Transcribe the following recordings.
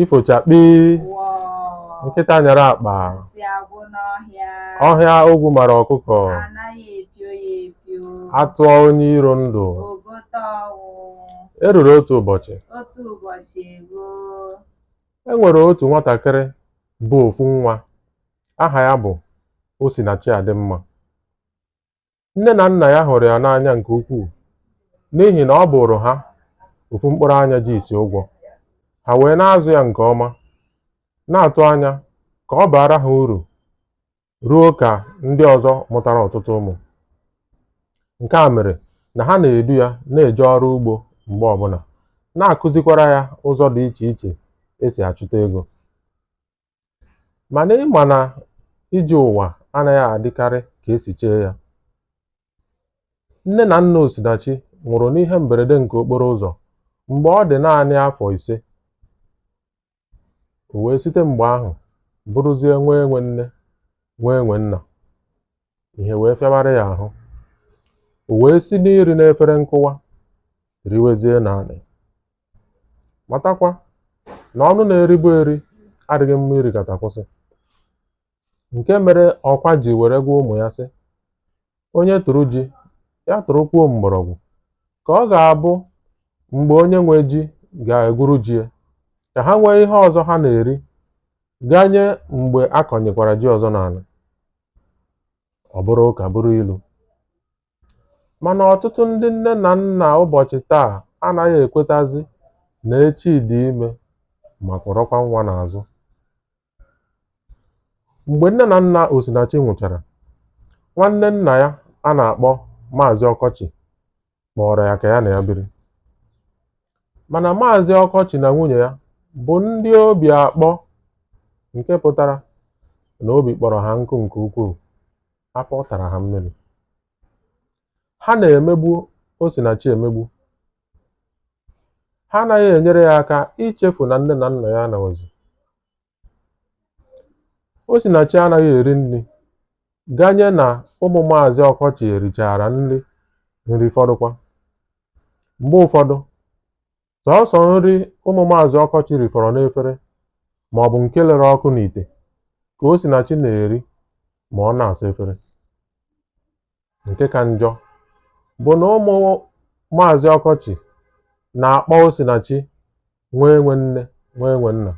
ifo chakpii wọọ nkịta nyara akpa nsị agwụ n'ọhịa ọhịa ogwu mara ọkụkọ anaghị epio ya epio a tụọ onye iro ndụ o gote ọnwụ e ruru otu ụbọchị otu ụbọchị eruo e nwere otu nwatakịrị bụ ofu nwa aha ya bụ Osinachi Adịmma Nne na nna ya hụrụ ya n'anya nke ukwuu n'ihi na ọ bụụrụ ha ofu mkpụrụ anya ji isi ụgwọ. Ha wee na-azụ ya nke ọma, na-atụ anya ka ọ baara ha uru ruo ka ndị ọzọ mụtara ọtụtụ ụmụ. Nke a mere na ha na-edu ya na-eje ọrụ ugbo mgbe ọbụla, na-akụzikwara ya ụzọ dị iche iche e si achụta ego. Mana ị ma na ije ụwa anaghị adịkarị ka e si chee ya. Nne na nna Osinachi nwụrụ n'ihe mberede nke okporo ụzọ mgbe ọ dị naanị afọ ise. O wee site mgbe ahụ bụrụzie nwa enwe nne, nwa enwe nna. Ihe wee fịawara ya ahụ. O wee si n'iri n'efere nkụwa riwezie n'anị. Matakwa na ọnụ na-eribu eri adịghị mma irikata kwụsị. Nke mere ọkwa ji were gwa ụmụ ya sị, onye tụrụ ji, ya tụrụkwuo mgbọrọgwụ, ka ọ ga-abụ mgbe onye nwe ji ga-egwuru ji ya, ka ha nwee ihe ọzọ ha na-eri ganye mgbe a kọnyekwara ji ọzọ n'ala. Ọ bụrụ ụka bụrụ ilu. Mana ọtụtụ ndị nne na nna ụbọchị taa anaghị ekwetazi na echi dị ime ma kwọrọkwa nwa n'azụ. Mgbe nne na nna Osinachi nwụchara, nwanne nna ya a na-akpọ Maazị Ọkọchị kpọọrọ ya ka ya na ya biri. Mana Maazị Ọkọchị na nwunye ya bụ ndị obi akpọ nke pụtara na obi kpọrọ ha nkụ nke ukwuu. afọ tara ha mmiri ha na-emegbu Osinachi emegbu ha anaghị enyere ya aka ichefu na nne na nna ya anọghịzi Osinachi anaghị eri nri ganye na ụmụ maazị ọkọchị erichara nri nri fọdụkwa mgbe ụfọdụ sọọsọ nri ụmụ maazị ọkọchị rifọrọ n'efere ma ọ bụ nke lere ọkụ n'ite ka osinachi na-eri ma ọ na-asa efere nke ka njọ bụ na ụmụ maazị ọkọchị na-akpọ osinachi nwa enwe nne nwa enwe nna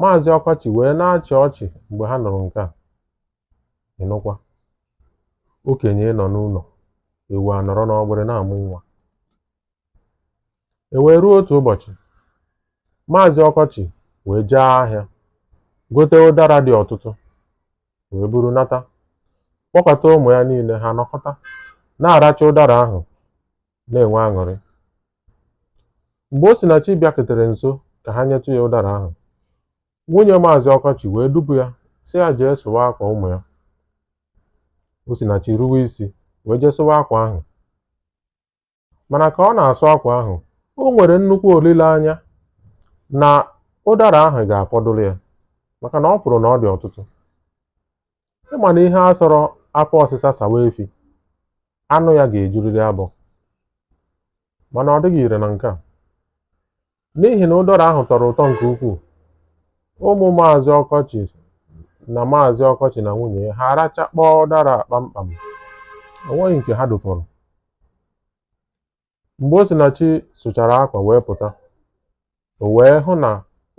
maazị ọkọchị wee na-achị ọchị mgbe ha nụrụ nke a Ị nụkwa? Okenye nọ n'ụlọ, ewu anọrọ n'ọgbịrị na-amụ nwa. E wee ruo otu ụbọchị, Maazị Ọkọchị wee jee ahịa gote ụdara dị ọtụtụ wee buru nata kpọkọta ụmụ ya niile ha nọkọta na-aracha ụdara ahụ na-enwe aṅụrị. Mgbe Osinachi bịaketere nso ka ha nyetụ ya ụdara ahụ, nwunye maazị ọkọchị wee dupu ya sị ya jee sụwa akwa ụmụ ya osinachi ruwe isi wee jee sụwa akwa ahụ mana ka ọ na-asụ akwa ahụ o nwere nnukwu olileanya na ụdara ahụ ga-afọdụrụ ya maka na ọ fụrụ na ọ dị ọtụtụ ịma na ihe a sọrọ afọ ọsịsa sawa efi anụ ya ga-ejuriri abọ mana ọ dịghị ire na nke a n'ihi na ụdara ahụ tọrọ ụtọ nke ukwuu ụmụ maazị ọkọchị na maazị ọkọchị na nwunye ya ha arachakpọọ ụdara a kpamkpam o nweghị nke ha dụfọrọ Mgbe Osinachi sụchara akwa wee pụta, o wee hụ na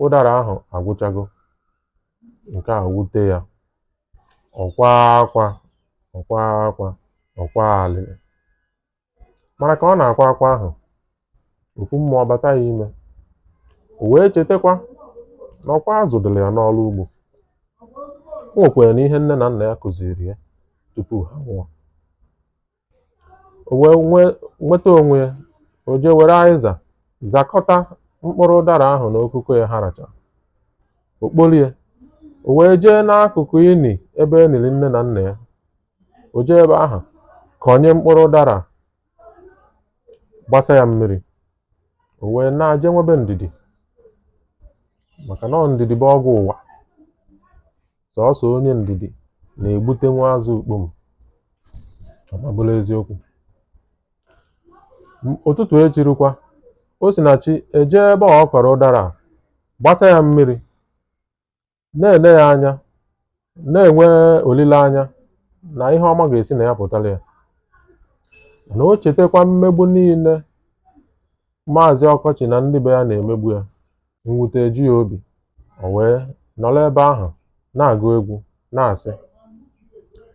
ụdara ahụ agwụchago. Nke a wute ya. Ọ kwaa akwa, ọ kwaa akwa, ọ kwaa alịlị. Mana ka ọ na-akwa akwa ahụ, ofu mmụọ bata ya ime. O wee chetakwa na ọkwa a zụdịrị ya n'ọrụ ugbo. O nwekwara na ihe nne na nna ya kụziiri ya tupu ha nwụọ. O wee nweta onwe ya, o jee were azịza zakọta mkpụrụ ụdara ahụ na okoko ya ha rachara. O kpolie, o wee jee n'akụkụ ini ebe e niri nne na nna ya. O jee ebe ahụ kọnye mkpụrụ ụdara a, gbasa ya mmiri. o wee naa jee nwebe ndidi maka na ọ ndidi bụ ọgwụ ụwa sọsọ onye ndidi na-egbute nwa azụ ukpom ọ ma bụrụ eziokwu M- ụtụtụ echi rukwa osinachi ejee ebe a ọ kọrọ ụdara a, gbasa ya mmiri na-ele ya anya na-enwe olileanya na ihe ọma ga-esi na ya pụtara ya na o chetakwa mmegbu niile maazị ọkọchị na ndị be ya na-emegbu ya mwute eju ya obi o wee nọrọ ebe ahụ na-agụ egwu na-asị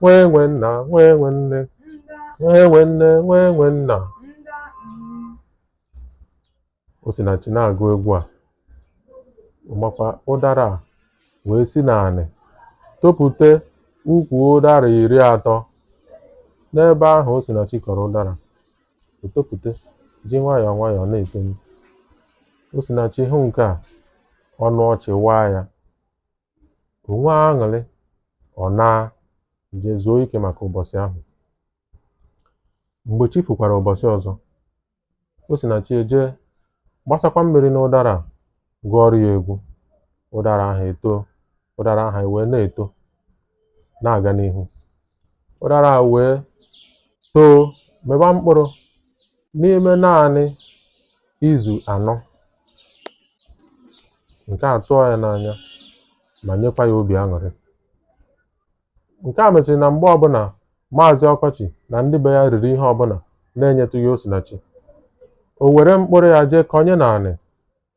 nwa enwe nna nwa enwe nne nwa enwe nne nwa enwe nna osinachi na-agụ egwu a makwa ụdara a wee si n'anị topụta ukwu ụdara iri atọ n'ebe ahụ osinachi kọrọ ụdara o topụta ji nwayọọ nwayọọ na-etoni osinachi hụ nke a ọnụ ọchị waa ya o nwee aṅụrị ọ naa je zuo ike maka ụbọchị ahụ mgbe chi fukwara ụbọchị ọzọ osinachi eje gbasakwa mmiri n'ụdara gụọrọ ya egwu ụdara ahụ etoo ụdara ahụ ewee na-eto na-aga n'ihu ụdara ahụ wee too mịba mkpụrụ n'ime naanị izu anọ nke a tụọ ya n'anya ma nyekwa ya obi aṅụrị nke a meziri na mgbe ọbụla maazị ọkọchị na ndị be ya riri ihe ọbụla na-enyetụghị osinachi o were mkpụrụ ya jee kọnye n'anị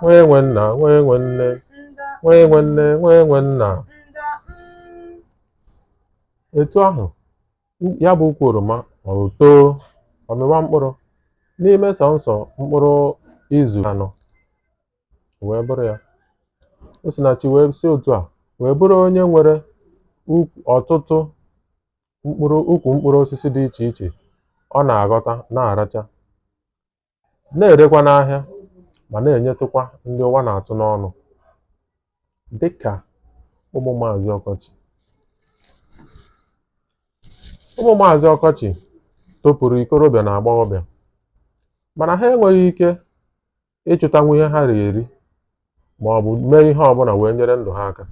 nwa enwe nna nwa enwe nne nwa enwe nne nwa enwe nna etu ahụ ya bụ ukwu oroma o too ọ mịwa mkpụrụ n'ime sọnsọ mkpụrụ izu anọ wee bụrụ ya osinachi wee si otu a wee bụrụ onye nwere ọtụtụ ukwu mkpụrụ osisi dị iche iche ọ na-aghọta na-aracha na-erekwa n'ahịa ma na-enyetụkwa ndị ụwa na-atụ n'ọnụ dị ka ụmụ maazị ọkọchị ụmụ maazị ọkọchị topụrụ ikorobịa na agbọghọbịa mana ha enweghị ike ịchụtanwu ihe ha ri eri ma ọ bụ mee ihe ọbụla wee nyere ndụ ha aka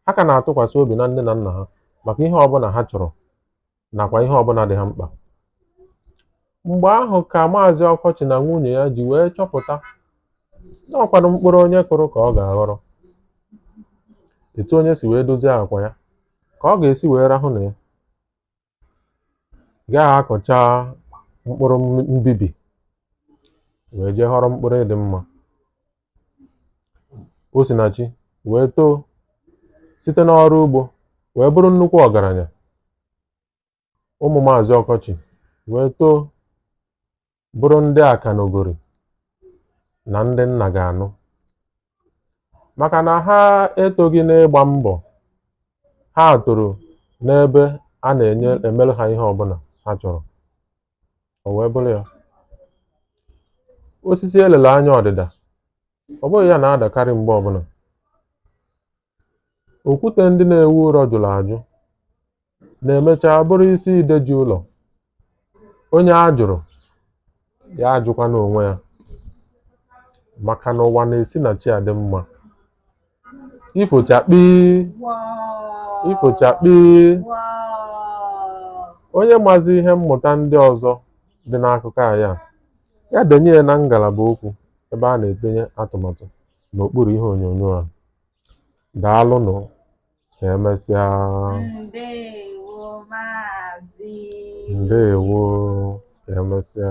Ha ka na-atụkwasị obi na nne na nna ha maka ihe ọbụla ha chọrọ nakwa ihe ọbụla dị ha mkpa. Mgbe ahụ ka Maazị Ọkọchị na nwunye ya ji wee chọpụta na ọ kwanụ mkpụrụ onye kụrụ ka ọ ga-aghọrọ. Etu onye si wee dozie akwa ya, ka ọ ga-esi wee rahụ na ya. ị gaghị akọcha mkpụrụ mbibi wee jee ghọrọ mkpụrụ ịdị mma osinachi wee too site n'ọrụ ugbo wee bụrụ nnukwu ọgaranya ụmụ maazị ọkọchị wee too bụrụ ndị akanogori na ndị nna ga-anụ maka na ha etoghị n'ịgba mbọ ha toro n'ebe a na-emere ha ihe ọbụla ha chọrọ o wee bụrụ ya osisi e lele anya ọdịda ọ bụghị ya na-adakarị mgbe ọbụla Okwute ndị na-ewu ụlọ jụrụ ajụ na-emecha bụrụ isi ide ji ụlọ. Onye a jụrụ, ya ajụkwana onwe ya. Maka na ụwa na-esi na chi adị mma. Ifo chakpii, ifo chakpii. Onye mazi ihe mmụta ndị ọzọ dị n'akụkọ anyị a, ya denye ya na ngalaba okwu ebe a na-edenye atụmatụ. n'okpuru ihe onyonyo a. Daalụnụ ka emesịa. Ndewo Maazị. Ndewo ka emesịa.